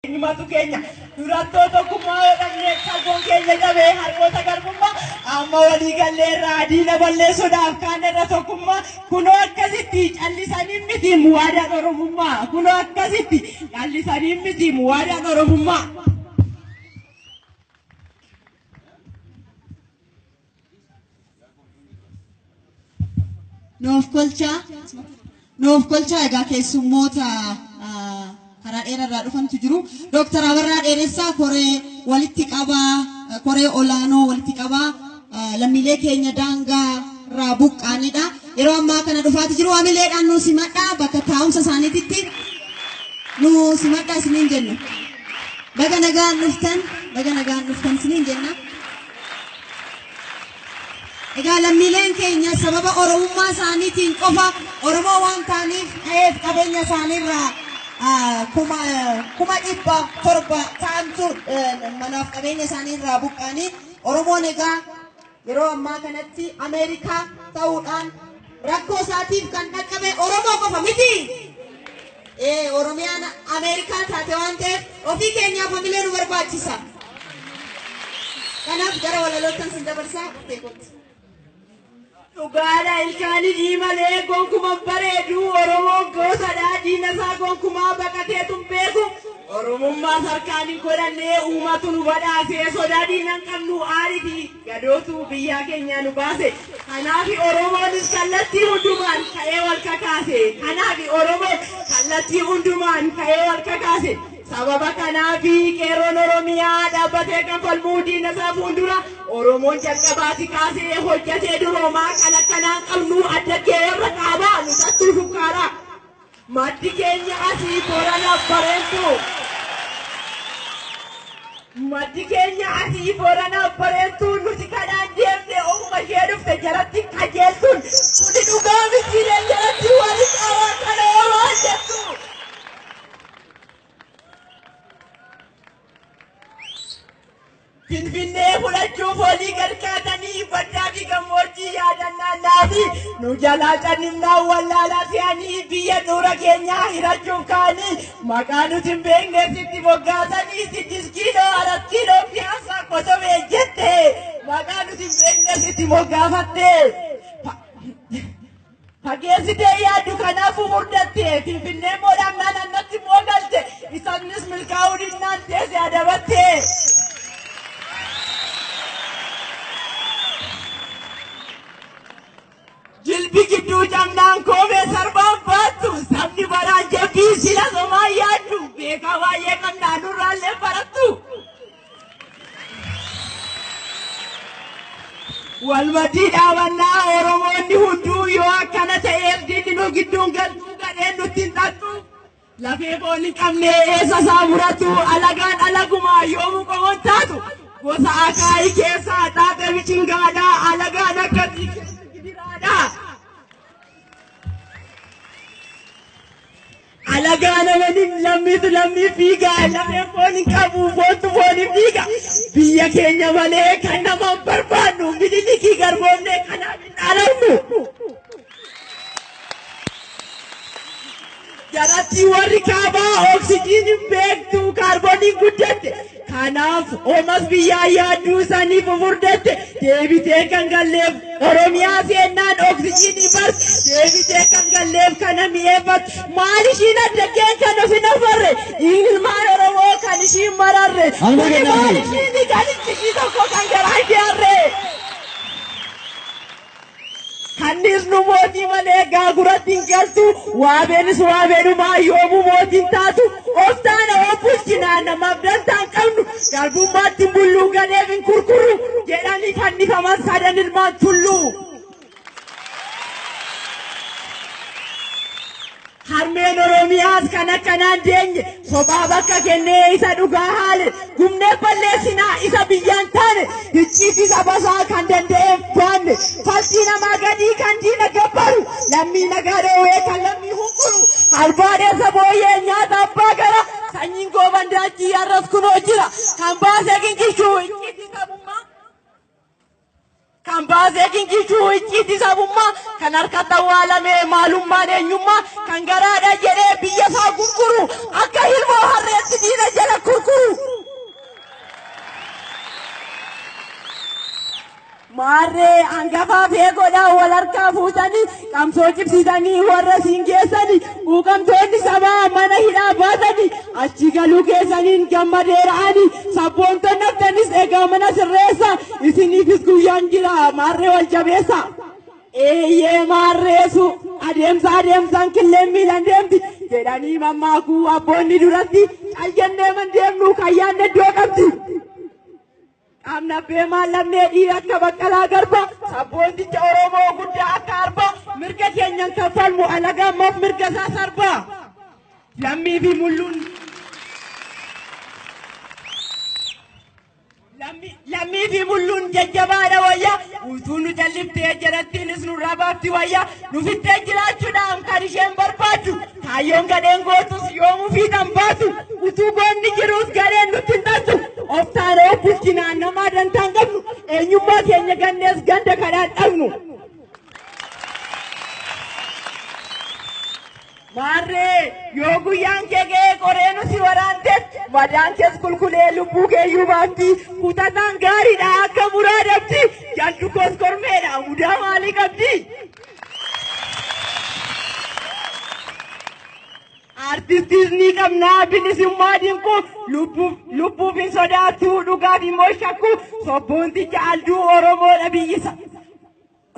Eenyumatu keenya durattoo tokkummaa yoo dhabne qalboon keenya cabee harkoota garbummaa amma walii gallee irraa diina balleessuudhaaf kaan irra tokkummaa kunoo akkasitti callisanii miti muwaadaan oromummaa kunoo akkasitti callisanii miti muwaadaan oromummaa. Nuuf kolchaa. Nuuf kolchaa egaa keessummoota ah, karaa dheerarraa dhufantu jiru. Dooktar Abarraa Dheeressaa koree walitti qabaa eh, koree olaanoo walitti qabaa ah, lammiilee keenya daangaa irraa buqqaanidha. Yeroo ammaa kana dhufaati jiru hamileedhaan nu simadhaa bakka taa'umsa isaaniititti nu simadhaa isiniin jenna. Baga nagaan dhuftan, baga nagaan dhuftan isiniin jenna. Egaa lammiileen keenya sababa Oromummaa isaaniitiin qofa Oromoo waan ta'aniif qe'eef qabeenya isaaniirraa kuma kuma dhibba torba ta'antu manaaf qabeenya isaaniirraa buqqa'anii Oromoon egaa yeroo ammaa kanatti Ameerikaa ta'uudhaan Rakkoo isaatiif kan dhaqqabe Oromoo qofa miti. Ee Oromiyaan Ameerikaa taate waan ta'eef ofii keenyaaf hamilee nu barbaachisa. Kanaaf gara walaloottan sin dabarsaa dhuftee kootti. Dhugaadha ilkaanii diimalee gonkuman bareedu Oromoo goosadha diina isaa gonkumaa baqatee tun beeku Oromummaa sarkaan hin godhannee uumatu nu badhaasee sodaa diinan qabnu aarifi Gadootu biyyaa kenyaa nu baase. Kanaafi Oromoonis kallattii hundumaan ka'ee wal kakaase. Kanaafi Oromoon kallattii hundumaan ka'ee wal kakaase. Sababa kanaafi qeerroon Oromiyaa dhaabbatee kan falmuu diina isaa fuuldura Oromoon jalqabaati kaasee hojjatee duroomaa kan akkanaan qabnu adda kee warra kaabaa nu tattuu shukkaaraa. Maddi keenya asii Borana Bareedduu. Maddi keenya asii Borana Bareedduu nuti kanaan deemne ofuma ishee dhufte jaratti qajeeltuun kuni dhugaa mitiiree jaratti wali qabaa kana homaa jettu. Finfinnee fudhachuuf olii gad kaatanii baddaa fi gammoojjii yaadannaa naanii nu jalaa cannifnaan wallaalaa fe'anii biyya xuura keenyaa hirachuuf kaanii maqaa nuti hin beekne sitti moggaasanii siddis kiiloo arat kiiloo piyaasaa kosobee jette maqaa nuti hin beekne sitti moggaafatte. Fageessitee yaaddu kanaafuu murdatte Finfinnee immoo dhaqnaan annatti immoo galte isatnis milkaa'uu dinnaan teesse adabatte. Jilbi gidduu cabnaan koomee sarbaan baattu sabni baraan jabbii sila somaa yaaddu beekaa baay'ee qabnaa nurraallee barattu. Walmatii dhaabannaa Oromoonni hunduu yoo akkana ta'eef diinni nu gidduun galtuu gadheen nutti hin xaxxu. Lafee foon hin qabne eessa isaa muratu alagaan alagumaa yoomuu qomoon taatu. Gosa akaayii keessaa xaaxe bichingaadhaa alagaan akkasii keessa gidiraadhaa. Alagaan amaniin lammiitu lammiif fiiga. Lafeen foon hin qabu, foontu foon hin fiiga. Biyya keenya malee kan nama hin barbaannu. Minilikii garboomnee kanaaf hin dhaalamnu. Jarattii warri kaabaa oksijiin hin beektu, kaarbooniin guddatte. Kanaaf omas biyyaa yaadduu sanii fufurdatte deebitee kan galleef Oromiyaa seennaan oksijiinii bars deebitee kan galleef kana mi'eeffatu maal ishiin adda keen kan of hin afarre ilmaan Oromoo kan ishiin mararre Amma kuni kennaafii. maal ishiin kan itti ishii tokko kan garaa kee harree. Kanniis nu mootii malee gaaguratti hin galtu. Waabeenis waabeenumaa yoomuu mootii hin taatu. Of taana of bulchina namaaf dantaa hin qabnu. Garbummaatti hin bulluu galeef hin kurkuru jedhanii fannifaman sadan ilmaan tulluu. Harmeen Oromiyaas kan akkanaan deenye kophaa bakka kennee isa dhugaa haale gubnee balleessinaa isa biyyaan taane hicciitti sabasaa kan danda'een baanne faltii namaa gadii kan diina gabbaru lammii nagaa dhoowwee kan lammii hunkuru albaadeessa booyyee nyaata abbaa gara sanyiin gooban daachii har'as kunoo jira kan baasee gingilchuu hicciitti sabummaa. Kan baasee gingilchuu icciitii sabummaa kan harkatti awwaalamee maalummaan eenyummaa kan garaadha jedhee biyya isaa gurguru akka ilmoo harreetti diina jala kurkuru. Maarree hangafaa fi eegoodhaan wal harkaa fuutanii Qabsoo cimsitanii warra siin keessani quuqamtoonni sabaa mana hidhaa baatani achi galuu keessaniin gammadeera ani sabboontonni haftanis egaa mana sirreessa isiniifis guyyaan jira maarree wal jabeessa. Eeyyee maarreesu adeemsa adeemsaan killeen miilan deemti jedhanii mammaakuu abboonni duratti cayyannee man deemnu kayyaan iddoo qabdi. Dhamdhabbee maal lamnee dhiira akka baqqalaa garba sabboonticha Oromoo guddaa akka arba mirga keenyan kan falmu alaga ammaaf mirga isaa sarba lammii fi mulluun Lammi- lammii fi mulluun jajjabaadha wayya utuu nu jalliftee jarattiinis nurraa baafti wayya Nu fittee jiraachuudhaan kan isheen barbaaddu kaayyoon gadheen gootus yoomuu fiixan baasu utuu goonni jiruus gadheen nutti hin dhaltu of taanee of bulchinaan namaa dantaan qabnu eenyummaa keenya gannees ganda kadhaan dhabnu. Maarree yoo guyyaan kee ga'ee qoreenu si waraantes madaan kees kulkulee lubbuu keeyyuu baafti kutataan gaariidha akka muraa dabdi jallu koos kormeedha mudaa maalii qabdi. Artistis ni qabnaa bilisummaa dinquu lubbuuf hin sodaattuu dhugaaf immoo shakkuu sobboonticha alduu Oromoodha biyyisa.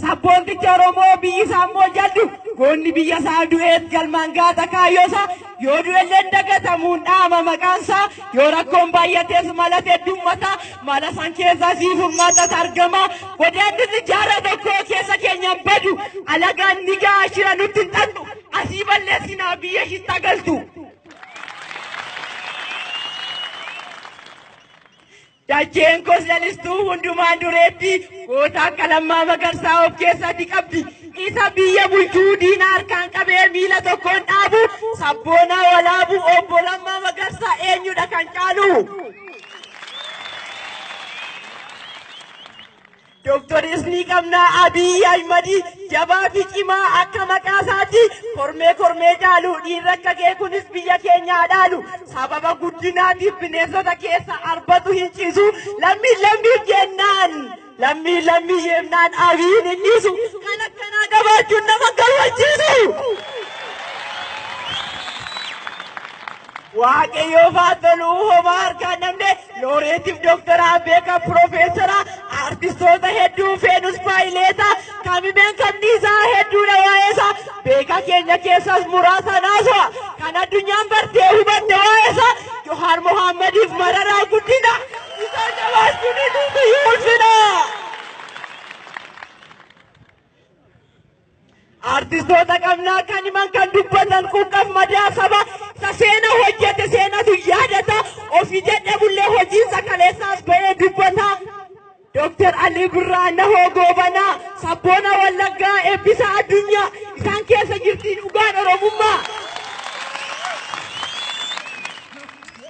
Sabboontichi Oromoo biyyi isaa immoo jaddu goonni biyya isaa du'eet galmaan gaata kaayyoo isaa yoo du'ellee hin dagatamuun dhaama maqaan isaa yoo rakkoon baay'atees mala teddummataa mala san keessaa sii furmaatat argama godaannisni jaara tokkoo keessa keenyaan badu alagaan ni ga'a shira nutti hin xannu asii balleessinaa biyya shitta galtu. Dacheen kos lalistuu hundumaan dureetti goota akka lammaa magarsaa of keessatti qabdi. Isa biyya bulchuu diina harkaan qabee miila tokkoon dhaabu sabboonaa walaabu obbo Lammaa Magarsaa eenyudha kan caalu? Doktoris ni qabna Abiy Ahimad jabaa fi cimaa akka maqaa isaati kormee kormee caalu dhiirri akka kee kunis biyya keenya dhaalu sababa guddinaatiif bineensota keessa arbatu hin ciisu lammiin lammiif jennaan lammiin lammii jennaan Abiyin hin dhiisu kan akkanaa qabaachuun nama gammachiisu. Waaqayyoo faatoluu homaa harkaan namne Looreetiif Dooktaraa beekaa Piroofeesara artistoota hedduu feenus faayileeta kamimeen kamni isaa hedduudha waa'eesa beekaa keenya keessaas muraasa naasoo kan addunyaan bartee hubatte waa'eesa Johaar Mohaammadif mararaa guddina isaan jabaachuun hedduutu yoo ulfina. Artistoota qabnaa kan himan kan dubbatan quuqqaf madaa qaba. Isa seena hojjete seenatu yaadata. Ofii jedhe bullee hojiinsa kaleessaas ba'ee dubbata. Dooktar Alii Birraa Nahoo Goobanaa sabboona Wallaggaa eebbisa addunyaa isaan keessa jirti dhugaan Oromummaa.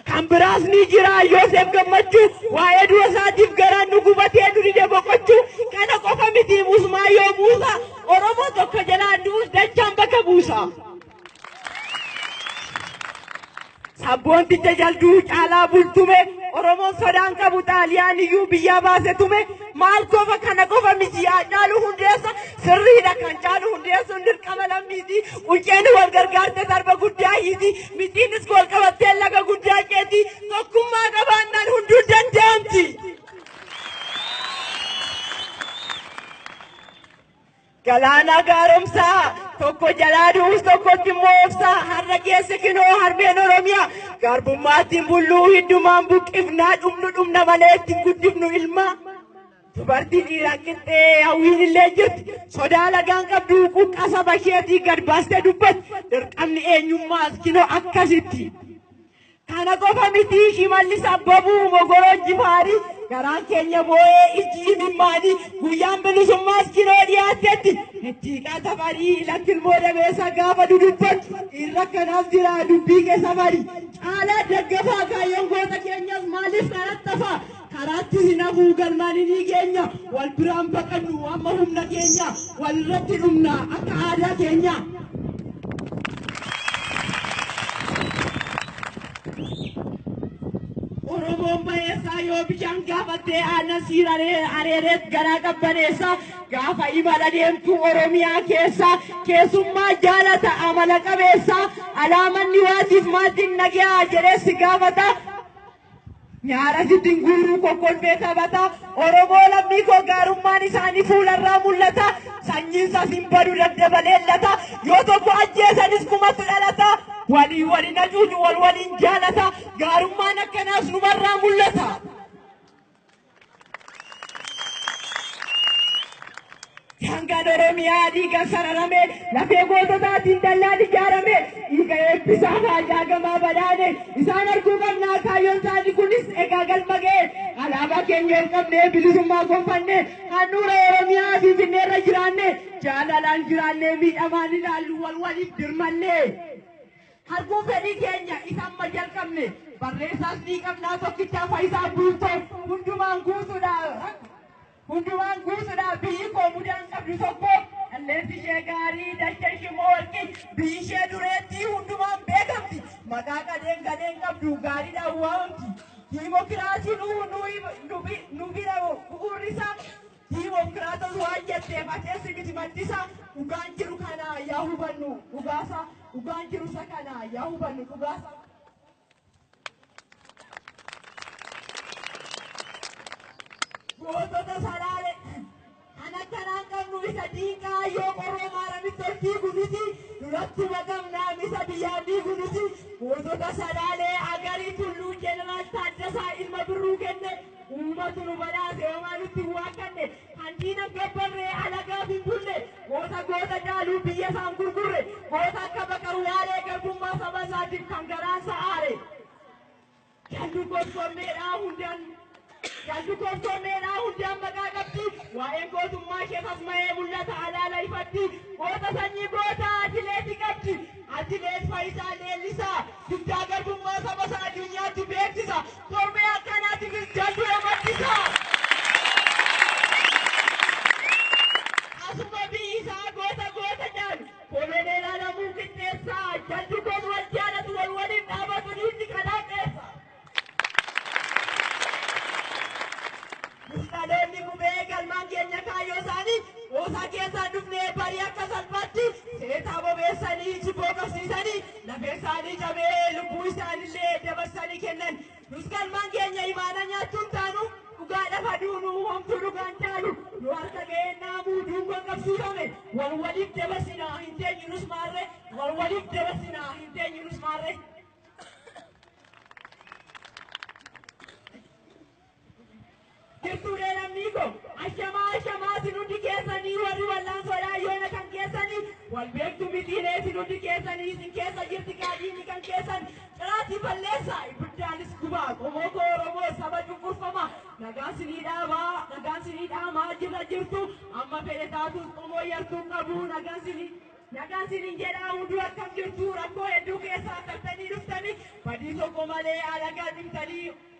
Kan biraas ni jira Yoosef gammachuu waa'ee du'a isaatiif garaan nu gubatee nu dide boqochuu kana qofa miti musmaa yoo buusa Oromoo tokko jalaa du'us dachaan bakka buusa. Sabboonticha jalduu caalaa bultume Oromoon sodaan qabu xaaliyaan iyyuu biyyaa baase tume maal qofa kana qofa miti yaa caalu hundeessa sirriidha kan caalu hundeessuun dirqama lammiiti unceen wal gargaarte darba guddaa hiiti. Mittiinis gool qabattee laga guddaa ceeti. Tokkummaa qabaannaan hunduu danda'amti. Galaanaa gaaromsaa tokko jalaa du'us tokkotti immoo obsaa har'a geesse kinoo harmeen Oromiyaa garbummaattiin bulluu hiddumaan buqqifnaa dhumnu dhumna malee ittiin guddifnu ilmaa. Dubartii dhiiraan qixxee hawwiin illee jirti. Sodaa lagaan qabdu quuqqaa saba isheetii gad baastee dubbatti. Dirqamni eenyummaas kinoo akkasitti. Kana qofa miti shimallis abbabuu mogoroo jifaarii garaan keenya boo'ee ijji imimmaanii guyyaan bilisummaas kinoo dhiyaattetti. Ittiiqaa safarii lakkilmoo dabeessa gaafa dudubbatu irra kanaaf jira dubbii kee safarii. Caalaa daggafaa kaayyoon goota keenyas maaliif karattafaa? Karaatti hin hafuu galmaan inii geenya wal biraan baqannu amma humna keenya wal irratti dhumna akka aadaa keenya. Oromoon bayeessaa yoo bishaan gaafattee aannan siiraree areereet garaa qabbaneessa gaafa imala deemtu Oromiyaa keessa keessummaa jaalata amala qabeessa alaamanni waatiif maatiin nagaa jedhee si gaafata Nyaara sittin guuruu kokkolfee taphata. Oromoo lammii koo gaarummaan isaanii fuularraa mul'ata. Sanyiin isaas hin badu daddabalee lata. Yoo tokko ajjeesanis kumatu dhalata. Walii waliin hacuucu wal waliin jaalata. Gaarummaan akkanaas numarraa mul'ata. Hangaan Oromiyaa dhiigan sararame, lafee goototaatiin dallaan ijaarame, dhiiga eebbisaa faajaa gamaa badhaane, isaan arguu qabnaa kaayyoon isaanii kunis egaa galma ga'e. Alaabaa keenya ol qabnee bilisummaa gonfanne, handhuura Oromiyaa Finfinneerra jiraanne, jaalalaan jiraannee miidhamaan ilaallu wal waliif dirmanne. Arguu fedhii keenya isa amma jalqabne barreessaas ni qabnaa tokkichaa Fayisaa Bultoo hundumaan guutuudhaa hundumaan guutuudhaa biyyi koo mudaan qabdu tokko qilleensi ishee gaarii dacha ishee moorqi biyyi ishee dureettii hundumaan beekamti maqaa gadheen gadheen qabdu gaariidhaan waamamti diimokiraasiin nu bira bu'uurri isaa Dimokiraatos waan jetteef ateessi miti maddisa dhugaan jiru kana yaa hubannu dhugaasa dhugaan jiru isa kana yaa hubannu dhugaasa. Gootota salaale kan akkanaan qabnu isa diinqaa yoo qorroo maaramitti ol fiigu nuti duratti maqamnaa misa biyyaa diigu nuti gootota salaalee agarii tulluu jeneraal Taaddasaa ilma birruu kenne Uummati nu badhaase homaa nutti hin waakkadhe, kan diina gabbarree alagaaf hin bulle, goota goota caaluu biyya isaan gurgurre, goota akka Baqar Waaree garbummaa saba isaatiif kan garaan isaa aare. Jaldu gorfammeedhaa hundaan jaldu gorfammeedhaa hundaan maqaa qabdi, waa'een gootummaa ishee sasma'ee mul'ata alaala ifatti, goota sanyii goota atileeti qabdi, atileet Fayisaa Leellisaa dugdaa garbummaa saba isaa addunyaatti beeksisa, Korbee akkanaatiifis jaldura maddisa. Asuma biyyi isaa goota goota jedhan koloneel Alamuu Qixxeessaa jaldu goon wal jaalatu wal waliin dhaabatu dhiirri kanaa qeessa. Musxaloonni gubee galmaan keenya kaayyoo isaanii qoosaa keessaan dhufnee barii akka salphaatti seetaa bobeessanii jibboo qabsiisanii lafee isaanii cabee lubbuu isaanillee dabarsanii kennan. Nus galmaan keenya imaana nyaachuun taanu dhugaa lafa duunu homtuu dhugaan taalu nu harka ga'ee naamuu duungoon qabsiifame wal waliif dabarsinaa hin teenyu nus maarre wal waliif dabarsinaa hin teenyu nus maarre. Jirtuulee lammii koo ashamaa ashamaa isin hundi keessanii warri wallaansoodhaa yoona kan keessanii wal beektu mitiiree isin hundi keessanii isin keessa jirti gaadiini kan keessan ciraatii balleessaa ibiddaanis gubaa qomoo koo oromoo saba cunqurfamaa nagaan sinii dhaabaa nagaan sinii dhaamaa jirra jirtu amma fedhe taatuus qomoo yartuu qabu nagaan sinii Nagaan sinin jedhaa hunduu akkam jirtu rakkoo hedduu keessaa tartanii dhuftanii badii tokko malee alagaa dhimtanii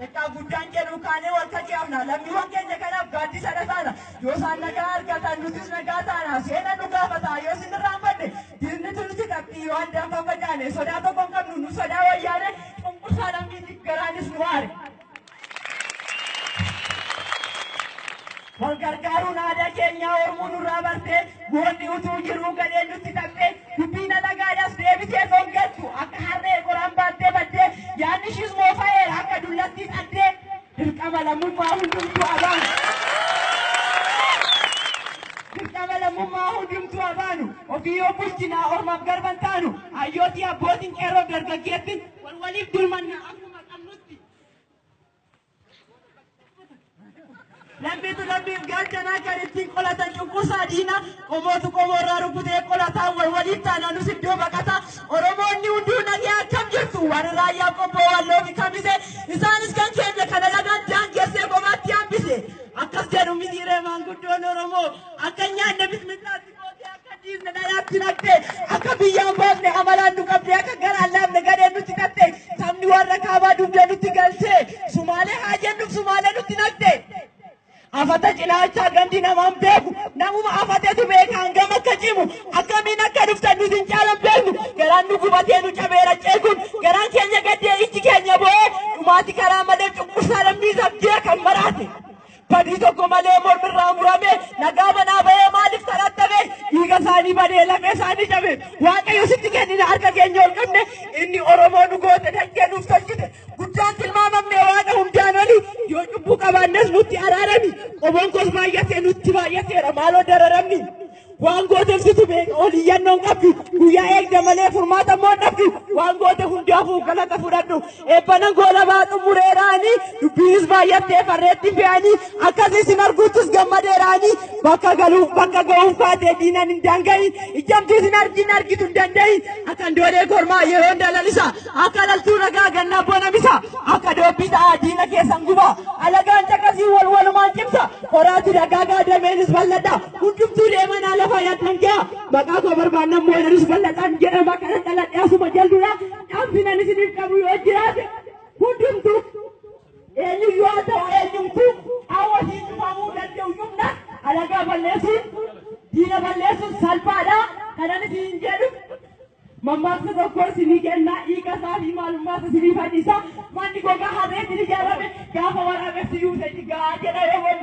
Xiqqaaf guddaan jedhu kaanee wal kajeelna. Lammiiwwan keenya kanaaf gaaddisa dha taana. Yoo isaan nagaa argatan nutis nagaa taana. Seenan nu gaafata. Yoo isin irraanfanne diinnitu nutti taphxii. Yoo addaan faffacaane sodaa tokko hin qabnu. Nu sodaa wayyaanee cunqursaa lammiitiif garaanis nu aare. Wal gargaaruun aadaa keenyaa Oromoo nurraa bartee moonni utuu jiruu gadheen nutti taphee dubbiin alagaadhaas deebitee dhongattu akka harree qoraan baattee baddee yaadni ishiis moofa'eera akka dullattii xaddee dirqama lammummaa hundumtuu abaanu. Dirqama lammummaa hundumtuu abaanu ofii yoo bulchinaa ormaaf garban taanu hayyootii abbootiin qeerroo dargaggeettiin wal waliif dirmanna akkuma qabnutti. Lammiitu lammiif gaachanaa kan ittiin qolatan cunqursaa diina qomootu qomoo irraa rukutee qolataa wal waliif taanaanus iddoo baqataa Oromoonni hunduu nagee akkam jirtu warri raayyaa qobboo walloo fi kamise isaanis kan keenya kana lagaan daangessee kophaatti hambise akkas jedhu mitiiree maanguddoon Oromoo akka nyaanne bitmillaatti. Mootii akka dhiifne na yaatti naqxe, akka biyyaan baafne amalaan nu qabde, akka garaan laafne gadheen nutti tatte, sabni warra kaabaa dugda nutti galche, sumaalee haa jennuuf sumaalee nutti naqxe. Afata cinaachaa gandi namaan beeku, namuma afatetu beeka hangam akka cimu, akkamiin akka dhuftan nuti hin caalan beeknu, garaan nu gubatee nu cabeera ceekuun, garaan keenya gaddee ijji keenya bo'ee, dhumaati karaa malee cunqursaa lammii sabdee kan maraate. badii tokko malee mormirraa murame nagaa manaa bahee maaliif kadhattame dhiiga isaanii badee lafee isaanii cabe waaqayyo sitti kennina harka keenya ol qabne inni oromoo nu goote daggee nuuf tolchite guddaan tilmaamamne waaqa hundaan oli yoo cubbuu qabaannes nutti araarami qomoon koos baay'atee nutti baay'ateera maaloo dararamni Waan goote ibsitu beeka ol iyyannoon qabdu guyyaa eegda malee furmaata immoo dhabdu waan goote hundaafuu galata fudhadhu eebbanan goolabaa xumureeraanii dubbiinis baay'attee farreetti fe'anii akkas isin arguuttis gammadeeraanii bakka galuuf bakka ga'uuf kaatee diinan hin daanga'iin ijjamtuu isin argiin argitu hin danda'iin akkan doolee kormaa yeroon dalalisa akka laltuu ragaa gannaa bonamisa akka doobbii ta'aa diina keessan guba alagaan caqasii wal walumaan cimsa horaati dagaagaa dameenis bal'adha Hundumtuu deemanaa lafa yaaddan gaa maqaa koo barbaannan moo jedhus bal'adhaan jedhama kana dhaladhe asuma jalduudha dhaamsi nan isiniif qabu yoo jiraate hundumtuu eenyu yoo ta'u eenyumtuu qaawwa siin dhufamuu danda'u humna alagaa balleessuun diina balleessuun salphaadha kanan isin jedhu mammaaksa tokko isinii kennaa dhiiga isaa fi maalummaa isa isinii fadhiisa manni gogaa harreetiin ijaarame gaafa waraabessi yuusee jigaa jedha yoo wal